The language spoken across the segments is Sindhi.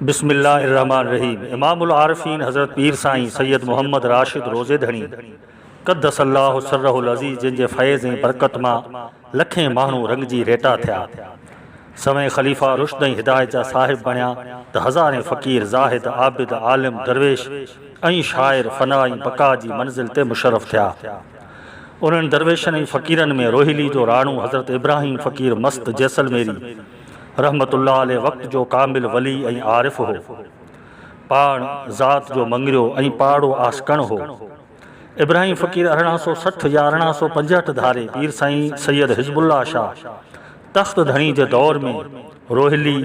بسم الله الرحمٰن الرحيم امام العارفين حضرت پير سائين سيد محمد راشد روضي ڌڻي قدس الله سره العزيز جن جي فيض ۽ برڪت مان لکين ماڻهو رڱجي ريٽا ٿيا سوين خليفا رشد ۽ هدايت جا صاحب بڻيا ته هزارين فقير زاهد عابد عالم درويش ۽ شاعر فنا ۽ بقا جي منزل تي مشرف ٿيا انهن درويشن ۽ فقيرن ۾ روهيلي جو راڻو حضرت ابراهيم فقير مست جيسلميري رحمة الله عليه وقت جو ڪامل ولي ۽ عارف هو. پاڻ ذات جو مڱريو ۽ پاڙو عاشقڻ هو. ابراهيم فقير ارڙهن سؤ سٺ يا ارڙهن سؤ پنجهٺ ڌاري پير سائين سيد حزب الله شاهه تخت ڌڻي جي دور ۾ روهيلي،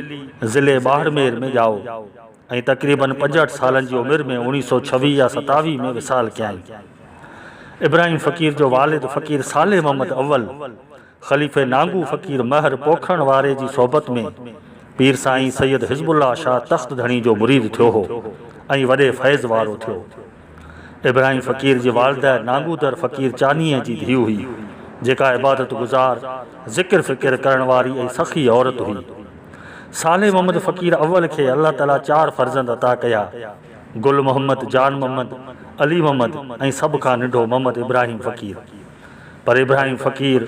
ضلعي ٻاهرمير، ۾ ڄائو ۽ تقريبن پنجهٺ سالن جي عمر ۾ اوڻيهه سؤ ڇويهه يا ستاويهه ۾ وصال ڪيائين. ابراهيم فقير جو والد فقير صالح محمد اول، خليفي نانگو فقير مهر پوکرڻ واري جي صحبت ۾ پير سائين سيد حزب الله شاهه تخت ڌڻي جو مريد ٿيو هو ۽ وڏي فيض وارو ٿيو. ابراهيم فقير جي والده نانگودر فقير چانيهي جي ڌيء هئي، جيڪا عبادت گذار، ذڪر فڪر ڪرڻ واري ۽ سخي عورت هئي. صالح محمد فقير اول کي الله تعاليٰ چار فرزند عطا ڪيا، گل محمد، جان محمد، علي محمد ۽ سڀ کان ننڍو محمد ابراهيم فقير. پر ابراهيم فقير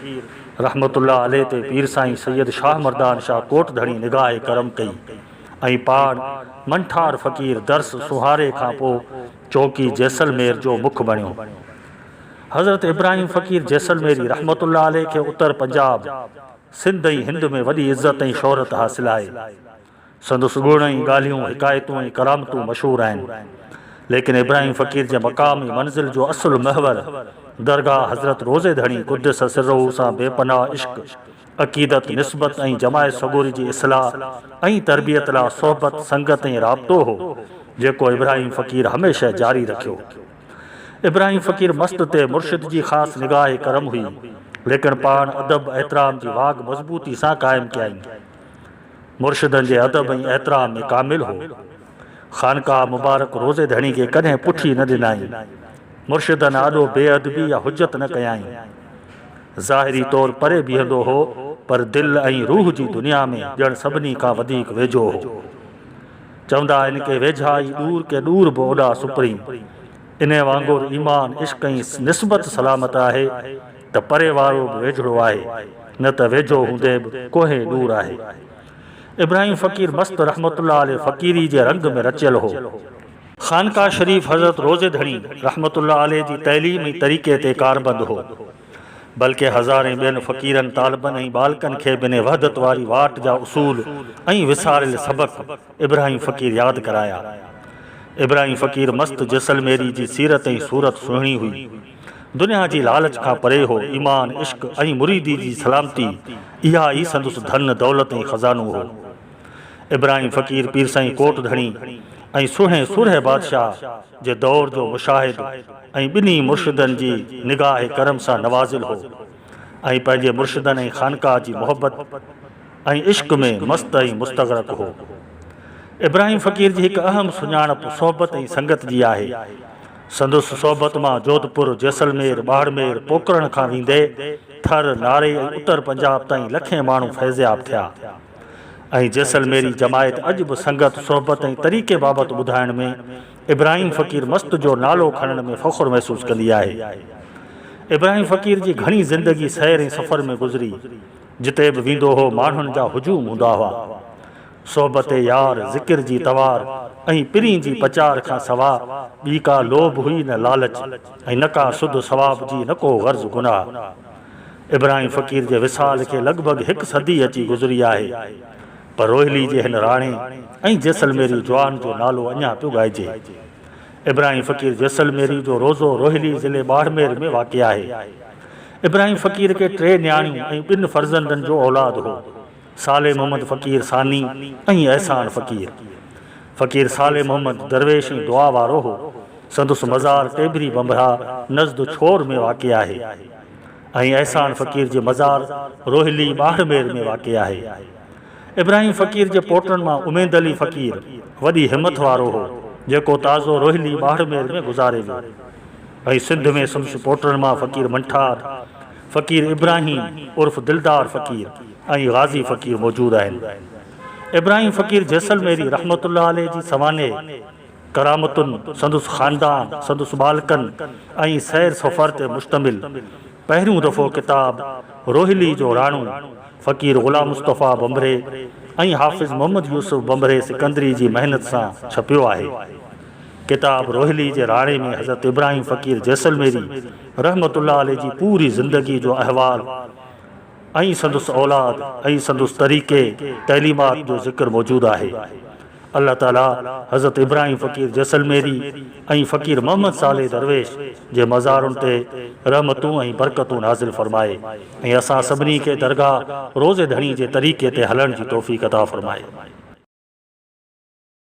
رحمة الله عليه تي پير سائين سيد شاهه مردان شاهه ڪوٽ ڌڻي نگاهه ڪرم ڪئي ۽ پاڻ منٺار فقير درس سونهاري کان پوء چونڪي جيسلمير جو مک بڻيو. حضرت ابراهيم فقير جيسلميري رحمة الله عليه کي اتر پنجاب، سنڌ ۽ هند ۾ وڏي عزت ۽ شهرت حاصل آهي. سندس گڻ ۽ ڳالهيون، حڪايتون ۽ ڪرامتون مشهور آهن. ليڪن ابراهيم فقير جي مقام ۽ منزل جو اصل محور درگاهه حضرت روضي ڌڻي قدس سره سان بي پناهه عشق، عقيدت، نسبت ۽ جماعت سڳوري جي اصلاح ۽ تربيت لا صحبت، سنگت ۽ رابطو هو، جيڪو ابراهيم فقير هميشه جاري رکيو. ابراهيم فقير مست تي مرشد جي خاص نگاهه ڪرم هئي، ليڪن پاڻ ادب، احترام جي واڳ مضبوطي سان قائم ڪيائين. مرشدن جي ادب ۽ احترام ۾ ڪامل هو. خانقاهه مبارڪ روضي ڌڻي کي ڪڏهن پٺي نه ڏنائين. مرشدن آڏو بي ادبي يا حجت نه ڪيائين. ظاهري طور پري بيهندو هو پر دل ۽ روح جي دنيا ۾ ڄڻ سڀني کان وڌيڪ ويجهو هو. چوندا آهن ڪي ويجها ئي ڏور ڪي ڏور به اوڏا سپريم. انهي وانگر ايمان، عشق ۽ نسبت سلامت آهي. ته پري وارو به ويجهڙو آهي، نه ته ويجهو هوندي به ڪوهين ڏور آهي. ابراهيم فقير مست رحمة الله عليه فقيري جي رنگ ۾ رچيل هو. خانقاهه شريف حضرت روضي ڌڻي رحمة الله عليه جي تعليم ۽ طريقي تي ڪاربند هو. بلڪه هزارين ٻين فقيرن، طالبن ۽ ٻالڪن کي به انهي وحدت واري واٽ جا اصول ۽ وساريل سبق ابراهيم فقير ياد ڪرايا. ابراهيم فقير مست جيسلميري جي سيرت ۽ صورت سهڻي هئي. دنيا جي لالچ کان پري هو، ايمان، عشق ۽ مريدي جي سلامتي، اها ئي سندس ڌن، دولت ۽ خزانو هو. ابراهيم فقير پير سائين ڪوٽ ڌڻي ۽ سونهين سورهيه بادشاهه جي دور جو مشاهد ۽ ٻنهي مرشدن جي نگاهه ڪرم سان نوازيل هو ۽ پنهنجي مرشدن ۽ خانقاهه جي محبت ۽ عشق ۾ مست ۽ مستغرق هو. ابراهيم فقير جي هڪ اهم سڃاڻپ صحبت ۽ سنگت جي آهي. سندس صحبت مان جوڌپور، جيسلمير، ٻاڙمير، پوڪرڻ کان ويندي ٿر، ناري ۽ اتر پنجاب تائين لکين ماڻهو فيضياب ٿيا ۽ جيسلميري جماعت اڄ به سنگت، صحبت ۽ طريقي بابت ٻڌائڻ ۾ ابراهيم فقير مست جو نالو کڻڻ ۾ فخر محسوس ڪندي آهي. ابراهيم فقير جي گهڻي زندگي سير ۽ سفر ۾ گذري، جتي به ويندو هو ماڻهن جا هجوم هوندا هئا. صحبت يار، ذڪر جي توار ۽ پرين جي پچار کان سوا ٻي ڪا لوڀ هئي نه لالچ ۽ نه ڪا سڌ ثواب جي نه ڪو غرض گناهه. ابراهيم فقير جي وصال کي لڳ ڀڳ هڪ صدي اچي گذري آهي پر روهيلي جي هن راڻي ۽ جيسلميري جوان جو نالو اڃا پيو ڳائجي. ابراهيم فقير جيسلميري جو روضو روهيلي ضلعي ٻاڙمير ۾ واقع آهي. ابراهيم فقير کي ٽي نياڻيون ۽ ٻن فرزندن جو اولاد هو. صالح محمد فقير ثاني ۽ احسان فقير. فقير صالح محمد درويش ۽ دعا وارو هو. سندس مزار ٽيڀري بنبها نزد ڇور ۾ واقع آهي ۽ احسان فقير جي مزار روهيلي ٻاهرمير ۾ واقع آهي. ابراهيم فقير جي پوٽن مان اميد علي فقير وڏي همٿ وارو هو، جيڪو تازو روهيلي ٻاهرمير ۾ گذاري ويو ۽ سنڌ ۾ سندس پوٽن مان فقير منٺار، فقير ابراهيم عرف دلدار فقير ۽ غازي فقير موجود آهن. ابراهيم فقير جيسلميري رحمة الله عليه جي سوانح، ڪرامتن، سندس خاندان، سندس ٻالڪن ۽ سير سفر تي مشتمل پهريون دفعو ڪتاب روهيلي جو راڻو فقير غلام مصطفيٰ ڀنڀري ۽ حافظ محمد يوسف ڀنڀري سڪندري جي محنت سان ڇپيو آهي. ڪتاب روهيلي جي راڙي ۾ حضرت ابراهيم فقير جيسلميري رحمة الله عليه جي پوري زندگي جو احوال ۽ سندس اولاد ۽ سندس طريقي تعليمات جو ذڪر موجود آهي. الله تعالي حضرت ابراهيم فقير جيسلميري ۽ فقير محمد صالح درويش جي مزارن تي رحمتون ۽ برڪتون نازل فرمائي ۽ اسان سڀني کي درگاهه روضي ڌڻي جي طريقي تي هلڻ جي توفيق عطا فرمائي.